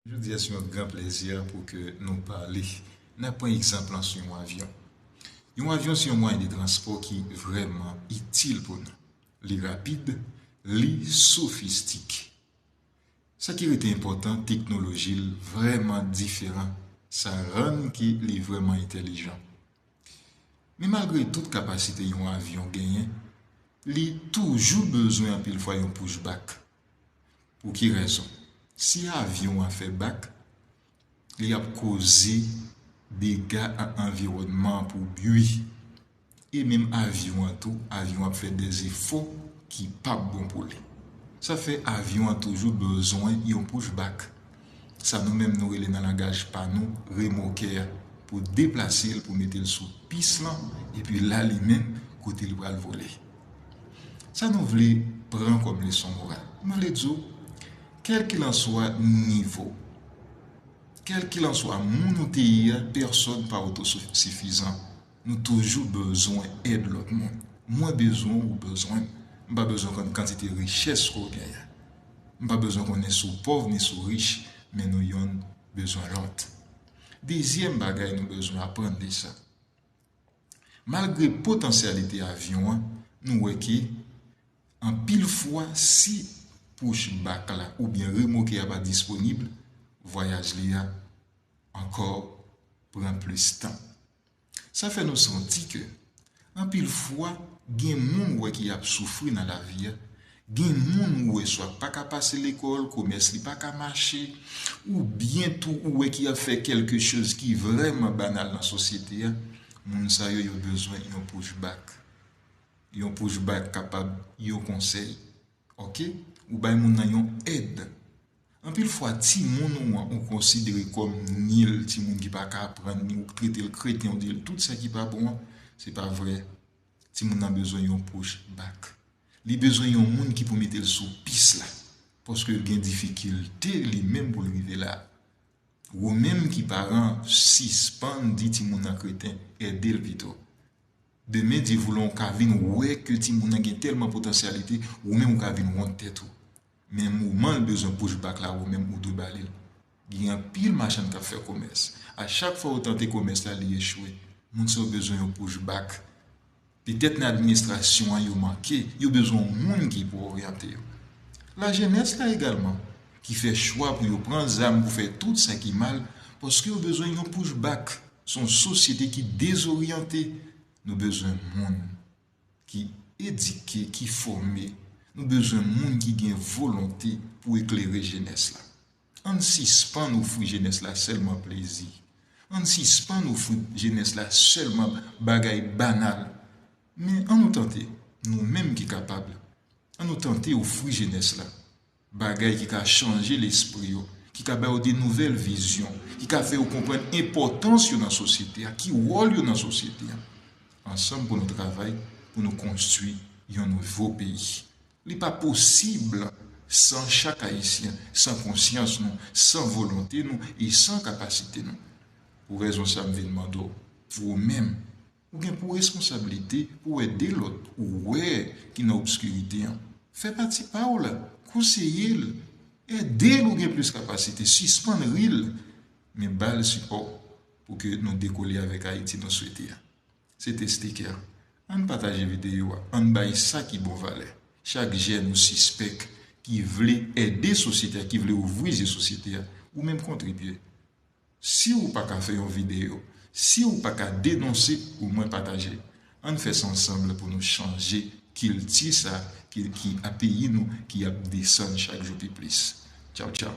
Jodi a se yon gran plezi pou ke nou pale. Nan pran egzanp lan sou yon avyon. Yon avyon se yon mwayen de transpò ki vrèman itil pou nou. Li rapid, li sofistike. Sa ki rete enpòtan, teknoloji l vrèman diferan. Sa rann ke li vrèman entelijan. Men malgre tout kapasite yon avyon genyen, li toujou bezwen anpil fwa yon pouch bak. Pou ki rezon? Si avyon an fè bak, li ap koze dega an anviwònman an pou bui. E menm avyon an tou, avyon ap fè de zefò ki pap bon pou li. Sa fè avyon an toujou bezwen yon pouch bak. Sa nou menm nou rele nan langaj pa nou remokè a pou deplase l pou mete l sou pis lan epi la li menm kote li pral vole. Sa nou vle pran kòm leson moral? M vle di w, kèlkilanswa nivo, kèlkilanswa moun ou te ye a, pèsòn pa otosifizan. Nou toujou bezwen èd lòt moun. Mwen bezwen w, ou bezwen m. M pa bezwen konn kantite richès ke w gen an. M pa bezwen konnen si w pòv ni si w rich, men nou yonn bezwen lòt. Dezyèm bagay nou bezwen aprann de sa. Malgre potansyalite avyon an, nou wè ke anpil fwa si push back la oubyen remoke a pa disponib, vwayaj li a ankò pran plis tan. Sa fè nou santi ke anpil fwa gen moun wè ki ap soufri nan lavi a Gen moun ou wè swa pa ka pase lekòl, komès li pa ka mache, oubyen tou ou wè ki ap fè kèlke choz ki vrèman banal nan sosyete a, moun sa yo yo bezwen yon push back. Yon push back kapab yon konsèy, ok, ou bay moun nan yon èd. Anpil fwa timoun ou an ou konsidere kòm nil, timoun ki pa ka aprann ni ou trete l kreten ou di l tout sa ki pa bon an, se pa vrè. Timoun nan bezwen yon push back. Li bezwen yon moun ki pou mete l sou pis la, paske l gen difikilte li menm pou l rive la. Wou menm ki paran sispann di timoun nan kreten, ede l pito. Demen Dye voulon w ka vin wè ke timoun nan gen tèlman potansyalite, wou menm ou ka vin wont tèt ou. Men moman l bezwen push back la ou menm ou dwe ba li l. Gen anpil machann k ap fè komès. A chak fwa yo tante komès la li echwe. Moun sa yo bezwen yon push back. Petèt nan administrasyon an yo manke, yo bezwen yon moun ki pou oryante yo. Lajenès la egalman, ki fè chwa pou yo pran zam pou fè tout sa ki mal, paske yo bezwen yon push back. Se yon sosyete ki dezoryante. Nou bezwen moun. ki edike, ki fòme, nou bezwen moun ki gen volonte pou eklere jenès la. Ann sispann ofri jenès la sèlman plezi, ann sispann ofri jenès la sèlman bagay banal, men an nou tante, nou menm ki kapab, an nou tante ofri jenès la. Bagay ki ka chanje lespri yo, ki ka ba yo de nouvèl vizyon, ki ka fè yo konprann enpòtans yo nan sosyete a, ki wòl yo nan sosyete a. Ansanm pou nou travay pou nou konstwi yon nouvo peyi. Li pa posib san chak Ayisyen, san konsyans nou, san volonte nou e san kapasite nou. Pou rezon sa m vin mande w, ou menm, Ou gen pou responsabilite pou w ede lòt ou wè ki nan obskirite an. Fè pati pa w la, konseye l, ede l ou gen plis kapasite, sispann ri l, men ba l sipò pou ke nou dekole avèk Ayiti nou swete a. Se te Steker. Ann pataje videyo a, ann bay sa ki bon valè. Chak jèn ou sispèk ki vle ede sosyete a, ki vle ouvri zye sosyete a, ou menm kontribye. Siw paka fè yon video, siw paka denonse ou mwen pataje. Ann fè sa ansanble pou nou chanje kilti sa ki a peyi nou ki ap desann chak jou pi plis. Tchaw tchaw.